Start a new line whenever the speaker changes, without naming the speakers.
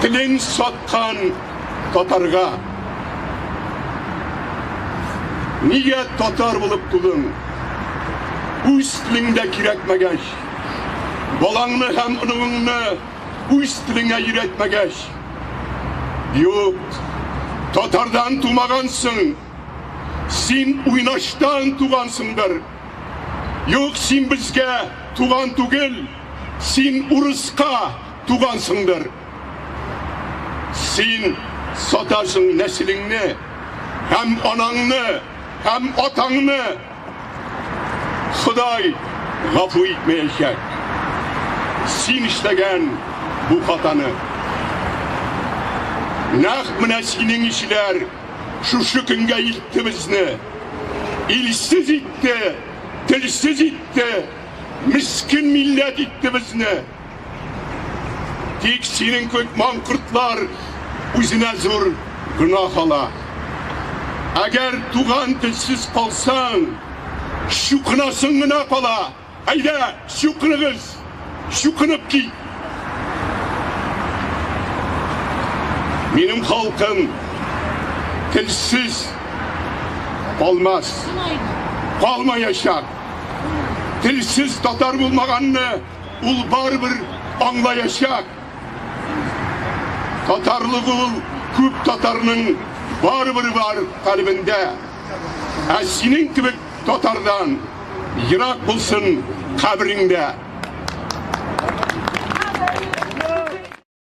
Телен саткан татарга. Нигә татар булып тудың? Үз телеңдә кирәкмәгәч. Балаңны һәм оныгыңны үз телеңә өйрәтмәгәч. Юк, татардан тумагансың. Син уйнаштан тугансыңдыр. Юк, син безгә туган түгел. Син урыска Тугансыңдыр. Син сатасың нәселеңне, һәм анаңны, һәм атаңны. Ходай гафу итмәячәк. Син эшләгән бу хатаны. Нәкъ менә синең ишеләр шушы көнгә илтте безне. Илсез итте, телсез итте, мискен милләт итте безне. Тик синең кебек маңкортлар үзенә зур гөнаһ ала. Әгәр туган телсез калсаң, чукынасың гына кала. Әйдә, чукыныгыз, чукынып кит. Минем халкым телсез калмас, калмаячак. Телсез татар булмаганны ул барыбер аңлаячак. Татарлык ул күп татарның барыбер бар калебендә. Ә синең кебек татардан ерак булсын кабереңдә.